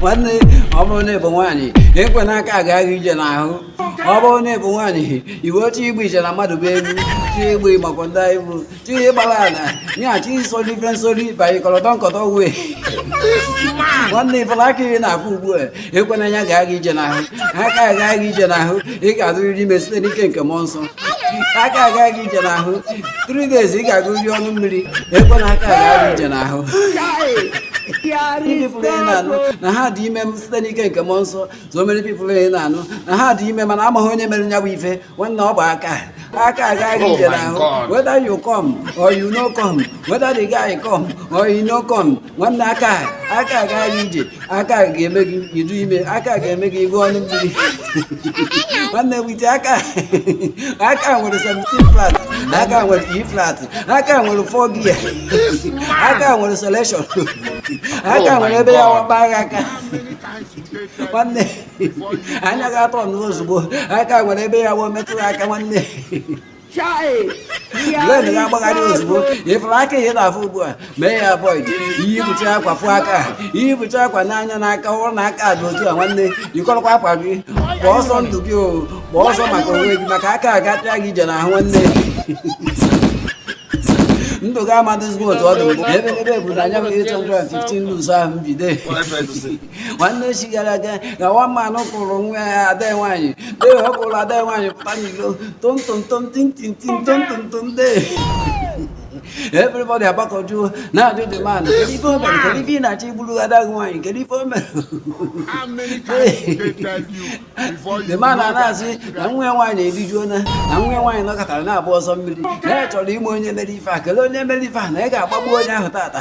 nwanne ọ bụrụ na ị bụ nwaanyị ekwena aka aga gị ije n'ahụ ọ bụrụ na ị bụ nwaanyị iwe oche igbu ije na mmadụ bụ egwu chi igbu ịmakwa ndị anyị bụ chi ịgbara ala ya chi soli ife nsoli banye kọrọtọ nkọtọ wee nwanne ị fụla aka ị na-afụ ugbu a ekwena ya aga gị ije n'ahụ aka aga gị ije n'ahụ ị ga-adịrịrị ime site n'ike nke mmụọ nsọ aka aga gị ije n'ahụ three days ị ga-agbụrịrị ọnụ mmiri ekwena aka aga gị ije n'ahụ the people ị na-anụ na ha dị ime site n'ike nke mmụọ nsọ so many people ị na-anụ na ha dị ime mana amaghị onye mere nya bụ ife nwanne ọ bụ aka aka aga gị ije n'ahụ whether you come or you no come whether the guy come or you no come nwanne aka aka aga gị ije aka ga-eme gị ịdị ime aka ga-eme gị ịgbụ ọnụ mmiri nwanne wite aka aka nwere 17 flat aka nwere E flat aka nwere 4 gear aka nwere selection aka nwere ebe ya wakpa agha aka nwanne anya ga-atọ n'ozugbo aka nwere ebe ya wụ metụ aka nwanne brain ga-agbagharị ozugbo ị fụrụ aka ị na-afụ ugbu a mee ya avoid ihe bụcha akwa fụ aka ihe bụcha akwa n'anya n'aka fụrụ na aka dị otu a nwanne yikọrọkwa akwa gị gbaa ọsọ ndụ gị o gbaa ọsọ maka onwe gị maka aka agatịa gị ije n'ahụ nwanne ndụ gị ama adịzikwa otu ọ dị mbụ ebe ebe bụ na anya 815 luz ahụ mbido nwanne echi gara aga ka one man kụrụ nwa ya ada nwaanyị dee ọ kụrụ ada nwaanyị pụta n'ilo tomtomtom tintintin tomtomtom dee everybody agbakọjuo na-ajụ the man kedu ife o mere kedu ife ị na-achọ igburu ada gị nwaanyị kedu ife o mere the man a na-asị na nwa ya nwaanyị erijuona na nwa ya nwaanyị nọkọtara na-abụ asọ mmiri na ya chọrọ ịma onye mere ife a kelee onye mere ife a na ị ga-agbagbu onye ahụ tata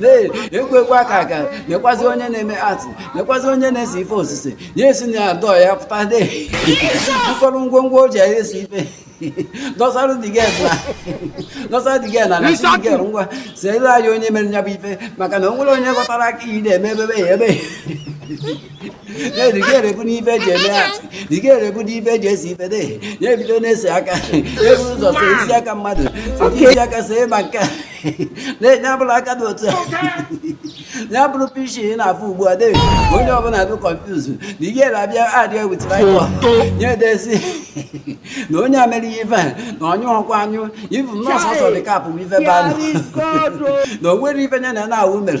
Lee, ekwekwa aka aka lekwazi onye na-eme art lekwazi onye na-ese ife osise ya esi na adọ ya pụta ụfọdụ ngwongwo o ji ese ife dọsara the girl dọsara the girl na-asị the girl ngwa seere anyị onye mere nya bụ ife maka na o nwero onye ghọtara aka ife na-eme ebebe ya ebe ya the girl ebulu ife e ji eme art the girl ebulu ife e ji ese ife de ya ebido na-ese aka ya ebu ụzọ see isi aka mmadụ see isi aka see ma nke a ya bụrụ aka dị otu a ya bụrụ peace ị na-afụ ugbu a dee onye ọbụla dị confuse the girl abịa adịghị ewetara nya edee sị na onye a mere ya ife na onye ọkwa anyụ ifu nọọsụ ọsọ dị kapụ ife banụ na o nwere ife nya na na-awụ mere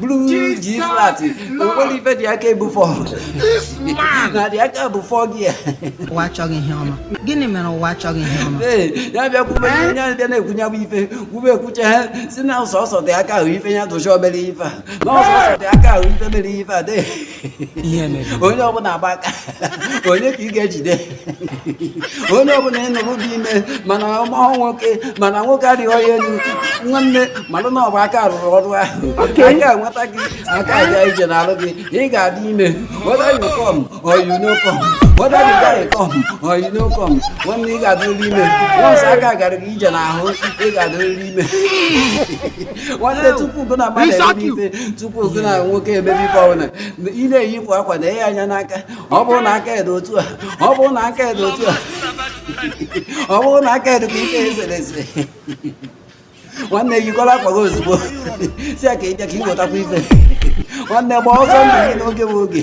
blues Jesus G flat is o Lord. nwere ife dị aka ebu fọ This man. na dị aka bụ fọ gị ya ụwa achọghị ihe ọma gịnị mere ụwa achọghị ihe ọma Ee, ya bịa kwube ihe onye ahụ bịa na-ekwunye bụ ife kwube ekwuche ha sị na sọsọ dị aka ahụ ife ya tụcha obere ife a na sọsọ dị aka ahụ ife mere ife a dị onye ọbụla agba aka onye ka ị ga-ejide onye ọbụla ị nụrụ dị ime mana ọ mahụ nwoke mana nwoke arịghị ya elu nwanne malụ na ọ bụ aka rụrụ ọrụ ahụ aka nweta gị aka gaa ije n'arụ gị ị ga-adị ime whether you come or you no come whether the guy come or you no come nwanne ị ga-adịrịrị ime once aka gara gị ije n'ahụ ị ga-adịrịrị ime nwanne tupu gụ na mmadụ ise tupu gụ na nwoke emebe ife ọbụla ị na-eyipụ akwa nee ya anya n'aka ọ bụrụ na aka ya dị otu a ọ bụrụ na aka ya dị otu a ọ bụrụ na aka ya dị ka ife e sere ese nwanne yikọrọ akwa gị ozugbo sị ya ka ị bịa ka ị wetakwa ife nwanne gba ọsọ ndụ gị n'oge bụ oge